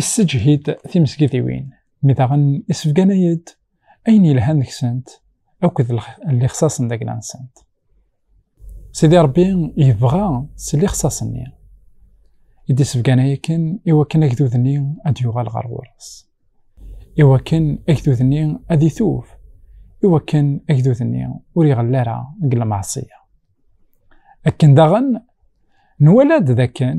Isseǧhid timesgidiwin, mi daɣen isbganay-d ayen yelhan deg-sent akked lixṣaṣ n dagla-nsent. Sidi Ṛebbi yebɣa s lixṣaṣ-nni i d-isbganay akken i wakken agdud-nni ad d-yuɣal ɣer ɣur-s, i wakken agdud-nni ad itub, i wakken agdud-nni ur iɣell ara deg lmeɛṣiyya. Akken daɣen, nwala-d d akken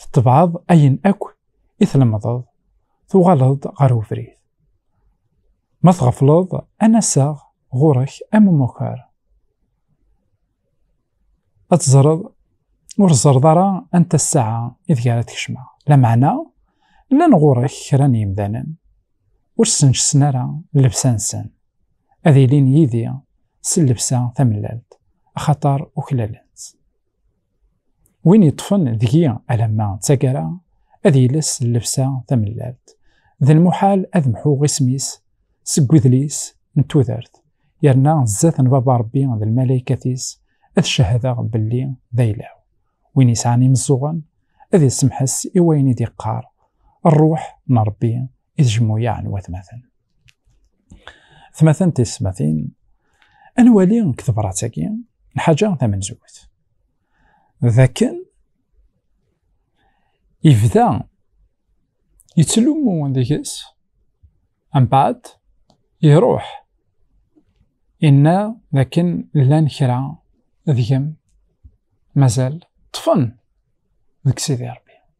tettebɛeḍ ayen akk i tlemdeḍ, tuɣaleḍ-d ɣer ubrid. Ma tɣefleḍ, ad naseɣ ɣur-k am umukar. Ad teẓreḍ ur ẓerreḍ ara anta ssaɛa ideg ara tkecmeɣ. Lameɛna, llan ɣur-k kra n yimdanen ur ssenǧsen ara llebsa-nsen, ad ilin yid-i s llebsa tamellalt, axaṭer uklalen-tt. Win yeṭṭfen deg-i alamma d tagara, ad yelles llebsa tamellalt. D lmuḥal ad mḥuɣ isem-is seg udlis n tudert, yerna zdat n Baba Rebbi d lmalaykat-is ad cehdeɣ belli d ayla-w. Win yesɛan imeẓẓuɣen, ad isemḥes i wayen i d-iqqar Rruḥ n Rebbi i tjemmuyaɛ n watmaten. Tmatent tismatin, ad nwali deg tebṛat-agi lḥaǧa tamenzut, d akken yebda yettlummu deg-s mbaɛd iṛuḥ inna d akken llan kra deg-m mazal ṭṭfen deg Sidi Ṛebbi.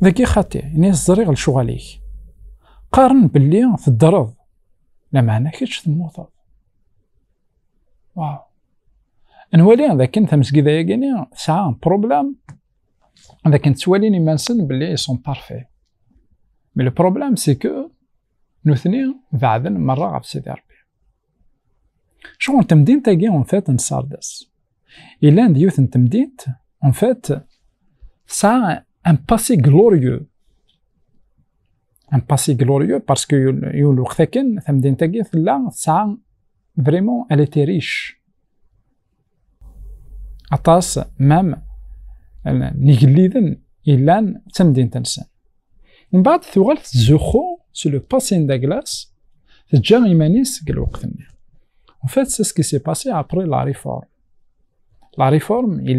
Dagi xati, ini ẓriɣ lecɣal-ik. Qqaren belli teddreḍ, lameɛna kečč temmuteḍ. Waw. Nwali d akken tamesgida-yagini tesɛa problème d akken ttwalin iman-nsen belli ils sont parfaits. Mais le problème c'est que nutni beɛden merra ɣef Sidi Rebbi. Sɣur temdint-agi en fait n Sardes yellan d yiwet n temdint en fait tesɛa un passé glorieux un passé glorieux parce que yul lweqt akken tamdint-agi tella tesɛa vraiment elle était riche aṭas mam n igelliden yellan d tamdint-nsen. Mbeɛd tuɣal tettzuxxu s le passé n Douglas, teǧǧa iman-is deg lweqt-nni. En fait, c'est ce qui s'est passé après la réforme. La réforme, il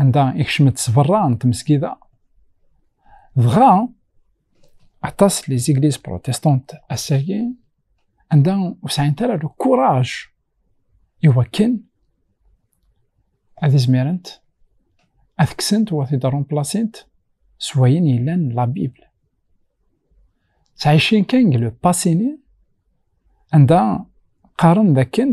anda ikcem-d s berra n tmesgida dɣa aṭas li zigliz protestant ass-agi anda ur sɛint ara le courage iwakken ad izmirent ad kksent u ad t-id-rumplasint s wayen yellan la Bible. Ttɛicin kan deg le passé-ni anda qqaren dakken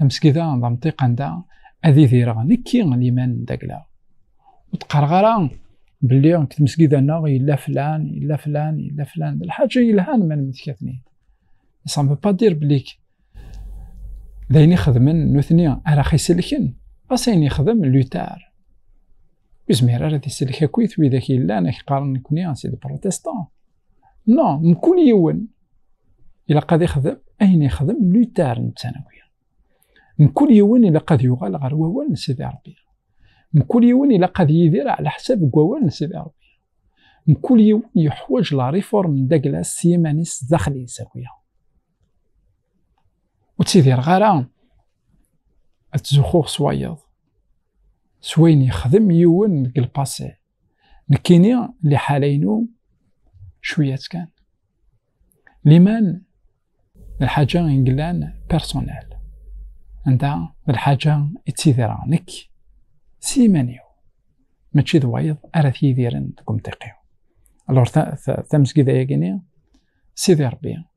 amesgid-a d amṭiq anda ad idireɣ nekki liman n dagla ur d-qqareɣ ara belli deg tmesgida-nneɣ yella flan yella flan yella flan d lḥaǧa yelhan ma nemmetkat-nid ça ne veut pas dire belli d ayen ixedmen nutni ara xiselken ɣas ayen yexdem lutar Ur zmir ara ad isellek akk-it widak yellan ak qqaren nekni a sidi protestan. No, mkul yiwen ilaq ad ixdem ayen ixdem Luther n ttanawi. Mkul yiwen ilaq ad yuɣal ɣer wawal n sidi Rebbi. Mkul yiwen ilaq ad yidir ɛla ḥsab deg wawal n sidi Rebbi. Mkul yiwen yeḥwaǧ la riform n Douglas s yiman-is daxel-is akk-ya. ur ttidireɣ ara ad tzuxxuɣ s wayeḍ s wayen yexdem yiwen deg lpasé nekkini liḥala-inu cwiyat kan liman d lḥaǧa i yellan personnel anda d lḥaǧa i ttidireɣ nekk s yiman-iw mačči d wayeḍ ara t-yidiren deg umtiq-iw alors tamesgida-yagini sidi rebbi